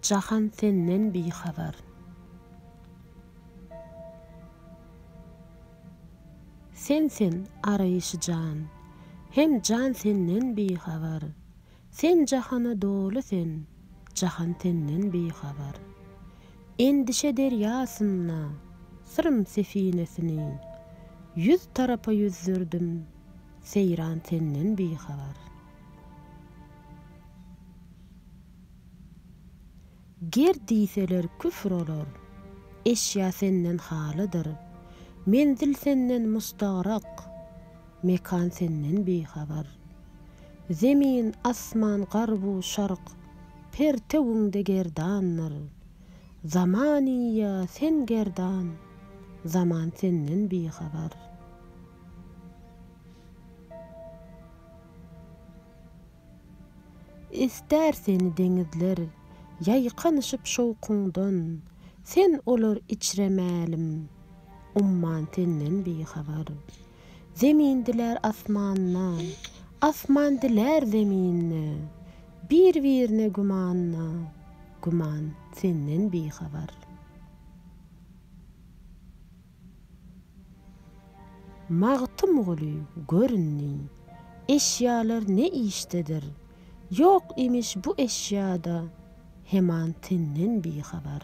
Jahan senden bihabar. Sen sen araýşy jan. Hem jan senden bihabar. Sen jahana doly sen. Jahan senden bihabar. Endişe derýasynda syrym sefinesini Ýüz tarapa ýüzdürdim, seýran senden bihabar. Ger diýseler küfr olar. Eşýa senden halydyr. Menzil senden mustagrak. Mekan senden bihabar. Zemin, asman, garbu, şark. Pertewiňde gerdandyr. Zaman ýa sen gerdan. Zaman senden bihabar. Ister seni deňizler ýaýkanyşyp şowkuňdan, Sen olar içre mälim, umman senden bihabar. Zemin diler asmanda, asman diler zeminde, Bir-birine gümanda, güman senden bihabar. Magtymguly göründi. Eşýalar ne işdedir? Ýok imiş bu eşýa-da heman senden bihabar.